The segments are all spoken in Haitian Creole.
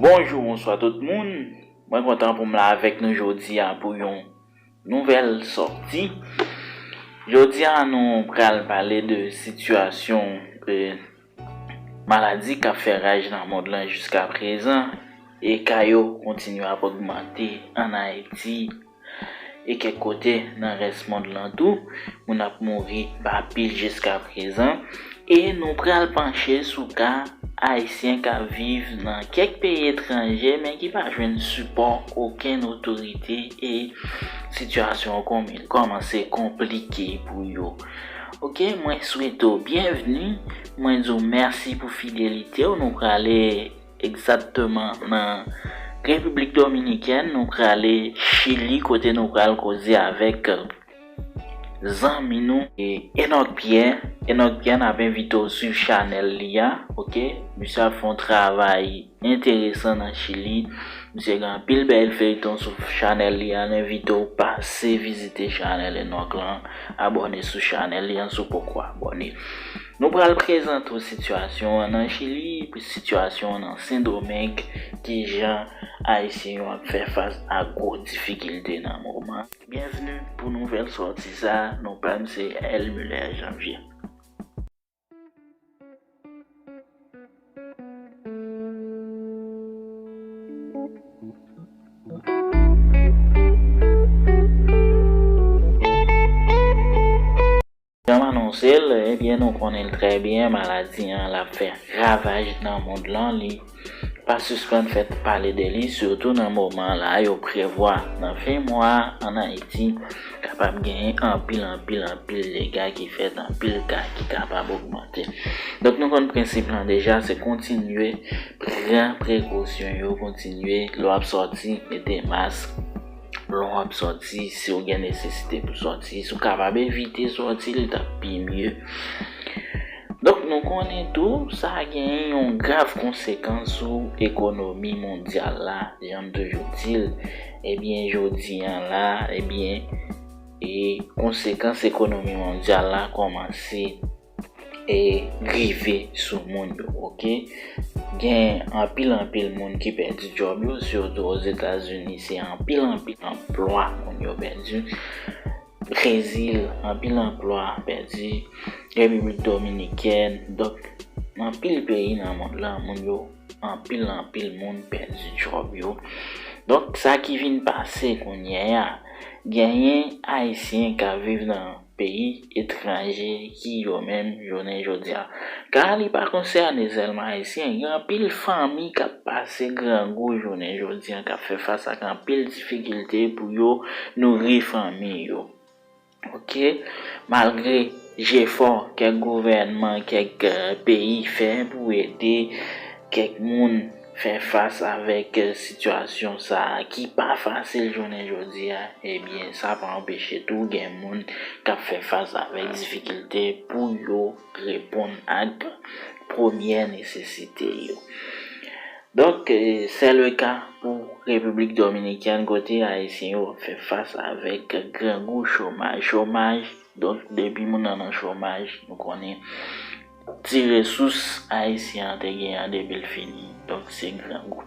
Bonjou bonswa tout moun, mwen kontan pou m la avèk nou jodi a pou yon nouvèl sòti. Jodi a nou pral pale de sitiyasyon maladi k ap fè raj nan mond lan jiska prezan e ka yo kontinye ap ogmante an Ayiti. E kèk kote nan rès mond lan tou, moun ap mouri pa pil jiskaprezan. E nou pral panche sou ka Ayisyen k ap viv nan kèk peyi etranje men ki pa jwenn sipò okenn otorite e sitiyasyon an kòmanse konplike pou yo. Ok, mwen swete w byenvni, mwen di w mèsi pou fidelite w. Nou prale. Egzatteman nan Repiblik Dominikèn nou prale Chili kote nou pral koze avèk zanmi nou. Enock Pierre, Enock Pierre nap envite w swiv chanèl li a ok misye ap fè yon travay enteresan nan Chili misye gen anpil bèl feyton sou chanèl li a n envite w pase vizite chanèl Enock lan abòne sou chanèl li an si w poko abòne. Nou pral prezante w sitiyasyon an nan Chili, sitiyasyon an nan Sen Domeng, kijan Ayisyen yo ap fè fas a gwo difikilte nan moman. Byenvni pou nouvèl sòti sa, non pa m se L. Muller Janvier. Jan m anonse l, ebyen nou konnen l trè byen, maladi an l ap fè ravaj nan mond lan, li pa sispann fè pale de li, sitou nan moman la yo prevwa nan fen mwa a ann Ayiti kapab genyen anpil anpil anpil dega ki fèt, anpil ka ki kapab ogmante. Donk nou konn prensip lan deja, se kontinye pran prekosyon yo, kontinye lè w ap sòti mete mask, Lè w ap sòti, si w gen nesesite pou sòti, si w kapab evite sòti, li t ap pi mye. Donk nou konnen tou, sa genyen yon grav konsekans sou ekonomi mondyal la, jan m toujou di l, ebyen jodi an la, ebyen konsekans ekonomi mondyal la kòmanse. e rive sou moun yo ok gen anpil anpil moun ki pèdi djòb yo sitou ozetazini se anpil anpil anplwa moun yo pèdi brezil anpil anplwa pèdi repiblik dominikèn donk anpil peyi nan mond lan moun yo anpil anpil moun pèdi djòb yo donk sa ki vin pase kounyea genyen ayisyen kap viv nan. peyi etranje ki yo menm jounen jodia. Ka li pa konsène sèlman ayisyen, gen anpil fanmi k ap pase grangou jounen jodia, k ap fè fas ak anpil difikilte pou yo nouri fanmi yo. Ok, malgre jefò kèk gouvènman, kèk peyi fè pou ede kèk moun Fè fas avèk sitiyasyon sa a ki pa fasil jounen jodi a, ebyen sa pa anpeche tou gen moun k ap fè fas avèk difikilte pou yo reponn ak premyè nesesite yo. Donk, sè leka pou Repiblik Dominikèn kote Ayisyen yo ap fè fas avèk grangou chomaj. Chomaj, donk depi moun nan nan chomaj, nou konnen. Ti resous Ayisyen an te genyen an depi l fini, donk se grangou.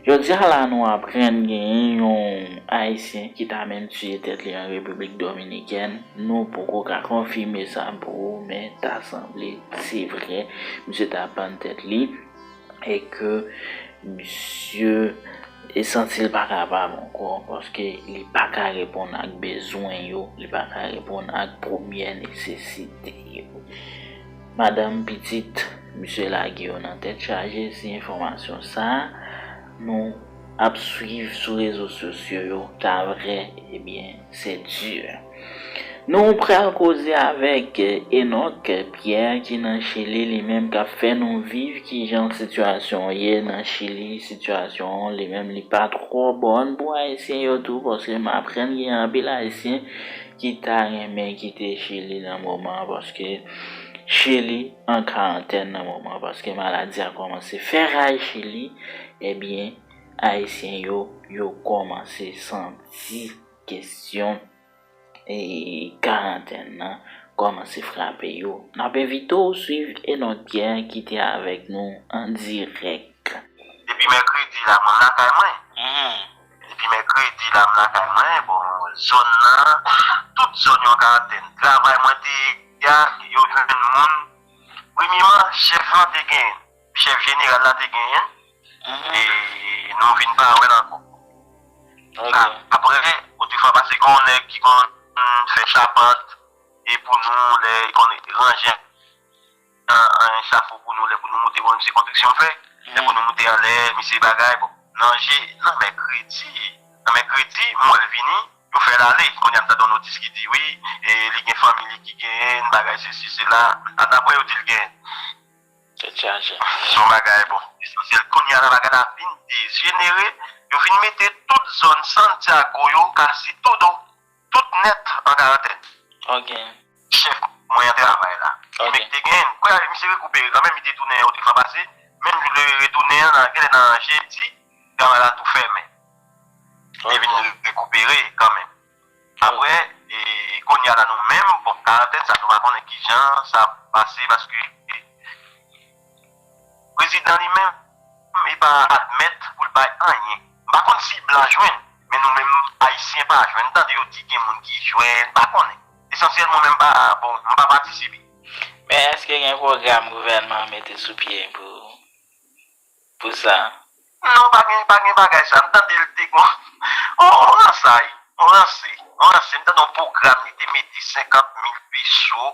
Jodi a la nou aprann genyen yon Ayisyen ki ta menm tiye tèt li an Repiblik Dominikèn, nou poko ka konfime sa pou ou men ta sanble se vre misye ta pann tèt li. e ke misye santi l pa kapab ankò paske li pa ka reponn ak bezwen yo, li pa ka reponn ak premyè nesesite yo. Madanm, pitit, misye lage yo nan tèt chaje, se enfòmasyon sa. Nou ap swiv sou rezo sosyo yo ta vrè ebyen se dur. Nou pral koze avèk Enock Pierre ki nan chili li menm kap fè nou viv kijan sitiyasyon an ye nan chili sitiyasyon an li menm li pa twò bòn pou ayisyen yo tou paske m aprann gen anpil ayisyen ki ta renmen kite chili nan moman paske chili an karantèn nan moman paske maladi a kòmanse fè raj chez li ebyen ayisyen yo yo kòmanse santi kesyon karantèn nan kòmanse frape yo nap envite w swiv Enord Pierre ki te avèk nou an dirèk. Depi mèkredi la moun lakay mwen. Depi mèkredi la m lakay mwen, bon zòn nan tout zòn yo an karantèn. Travay mwen te ye a yo jwenn moun, premyeman chèf lan te gen, chèf jeneral la te genyen e nou vin pa wè l ankò. Aprè bon de fwa pase gen yon nèg ki konn fè chapant e pou nou lè li konn ranje. An echafo pou nou lè pou nou moute bon misye kontriksyon fè lè pou nou moute anlè misye bagay bon nan je nan mèkredi nan mèkredi m wèl vini yo fèl ale kounya m tande yon notis ki di wi li gen fanmi li ki genyenn bagay sesi sela a daprè yo dil gen tèt chaje son bagay bon esansyèl kounya la bagay la vin dejenere yo vin mete tout zòn santiago yo kasitodo. Tout net an karantèn. Ok. Chef mwen an travay la. Ok. Emek te gen. Kounye a misye rekupere kanmenm li te tounen yon de fwa pase, menm jou li retounen an nan genlè nan jedi travay la tou fèmen. Li te vin rekupere kanmenm. Aprè kounye a la nou menm bon karantèn sa nou pa konnen kijan sa ap pase paske. Prezidan li menm li pa admèt pou l bay anyen. M pa konn si blan jwenn, men nou menm Ayisyen pa jwenn. M tande yo di gen moun ki jwenn, m pa konnen. Esansyèlman mwen m pa, bon, m pa patisipe. Men èske gen pwogram gouvènman an mete sou pye pou sa? Non, pa gen, pa gen bagay sa. M tande l te gon yon ransay, yon ranse, yon ranse. M tande yon pwogram li te mete 50 mil peso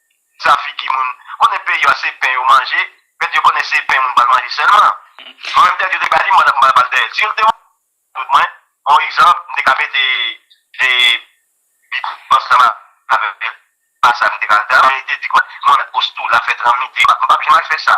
Sa figi moun konnen peyi a se pen yo manje pèdi yo konnen se pen moun pral manje sèlman mwen menm tèt yo te bali mwen la pou mal bal dèyèl si yo te wè tout mwen bon egzanp m te ka mete e bib ansanm avèl pa sa m te ka l ta men li te di mwen mwen met post tou la fè tranmite m pa byen mal fè sa.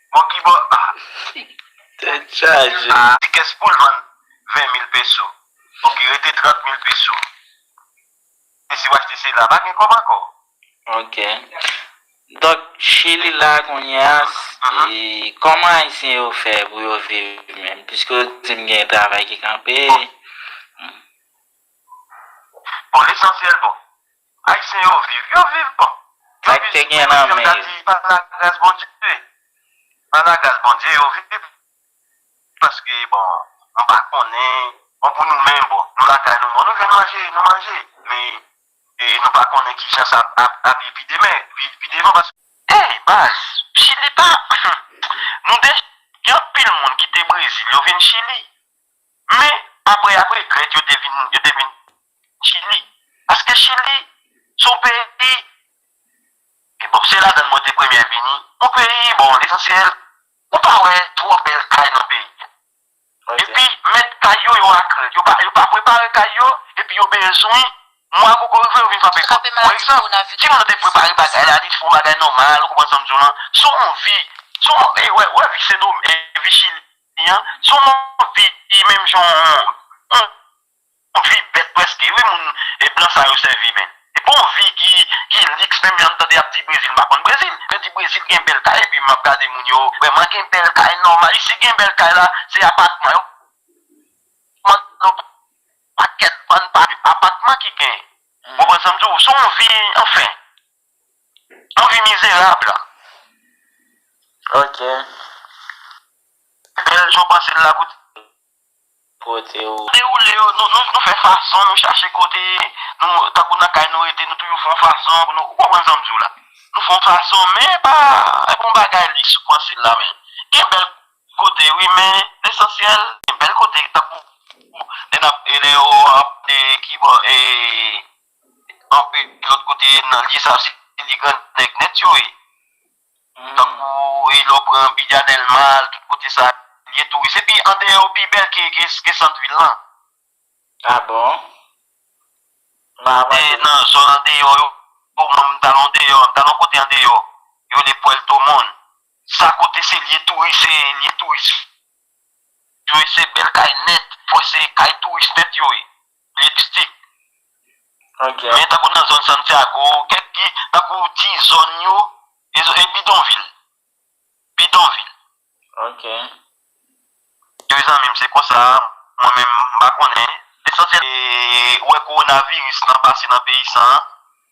Bon kibò Tèt chaje. Ti kès poul vann 20 mil peso ok rete 30 mil peso e siw achte sila pa gen kòb ankò. Ok donk chili la kounye a kòman ayisyen yo fè pou yo viv menm piske ou dim gen travay ki kanpe. Bon lesansyèl bon Ayisyen yo viv, yo viv bon. Yo viv si byen menm jan m ta di pa la gras Bondye. Pa la gras Bondye yo viv paske bon m pa konnen bon pou nou menm bon nou lakay nou bon nou jwenn manje nou manje men e nou pa konnen ki jan sa ap ye pi demen pi devan paske Hey baz, chili pa, humm, nou dech gen anpil moun kite brezil yo vin chili. Men, apre apre, Grèk yo te vin, yo te vin Chili. Paske Chili se yon peyi, e bon, se ladann mwen te premye vini. Yon peyi, bon, lesansyèl, ou pa wè twò bèl kay nan peyi a. Epi, mèt kay yo, yo akrè. Yo pa, yo pa prepare kay yo, epi yo bezwen, mwa koko rive, yo vin frape pòt. Pou egzanp, si moun nan te prepare bagay la, li te fè yon bagay nòmal, ou konprann sa m di w lan, se yon vi, se yon, e wè, wè vi Sendomeng, vi Chili. Wi an se yon mòd vi menm jan yon mòd vi bèt prèske wi moun blan sa yo sèvi men se pa yon vi ki liks menm jan nou tande yap di brezil m pa konn brezil yo di brezil gen bèl kay epi map gade moun yo vrèman gen bèl kay nòmal isi gen bèl kay la se apatman yo pran nan pakèt bann pa apatman ki gen ou konprann sa m di w se yon vi anfen. Nou vin mizerab la ok. Bel jo panse l la pou kote ou. Dewoule yo nou fè fason nou chache kote nou tankou nan kay nou rete nou toujou fon fason pou nou ou konprann sam diw la nou fon fason men epa epa yon bagay liks ou panse l la men gen bèl kote wi men lesansyèl gen bèl kote tankou lè nap lè yo ap kibò ee. Anpi lòt kote nan lye sa se lye grannèg nèt yo ye. Tankou e lè w pran Biga Dèlma, tout kote sa lye touris. Epi andeyò yo pi bèl ke sant vil lan. A bon? E nan zòn andeyò yo, mwen m t al andeyò, m t al yon kote andeyò, yo rele Puerto Montt. Sa kote se lye touris, se lye touris yo ye, se bèl kay nèt, fò se kay touris nèt yo ye. Mixtip. Men tankou nan zòn Santiago, kèk ki tankou ti zòn yo e zo e bidonvil. Bidonvil. Ok. Wi zanmi m se konsa mwen menm m pa konnen. Lesansyèl se wè kowonaviris lan pase nan peyi san an.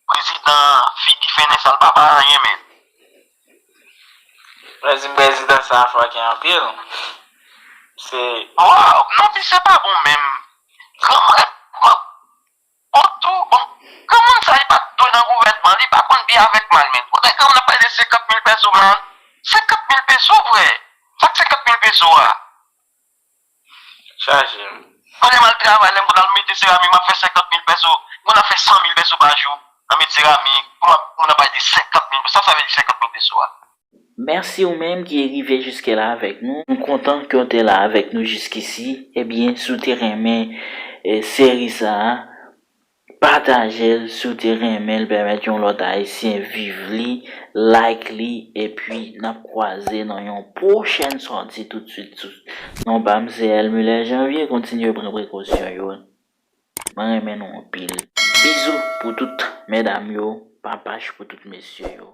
Prezidan an figi fennen sal papa anyen menm. Mwen di prezidan sa fòkè anpil se. Waw non misye pa bon menm. Granmèt mwen bon tou bon. Granmoun sa li pat dwe nan gouvènman li pa konn byen avèk mal menm. Kote granmoun nan pale de 50 mil pèso man. 50 mil peso vre. Sak 50 mil peso a. chaje m. Pandan m al travay, lè m konn al mete seramik m ap fè senkant mil pèso, m konn ap fè san mil pèso pa jou nan mete seramik, pou m ap pou moun ap pale de senkant mil pèso, sa sa vle di senkant mil pèso a? Mèsi ou menm ki rive jiskè la avèk nou, nou kontan ke w te la avèk nou jiskisi, ebyen si w te renmen seri sa a, Patajel si w te renmen l pèmèt yon lòt ayisyen viv li like li epi nap kwaze nan yon pwochèn sòti tout swit sou non pam se Elmule Janvier kontinye pran prekosyon yo mwen renmen nou anpil bizou pou tout mèdam yo papach pou tout mesye yo.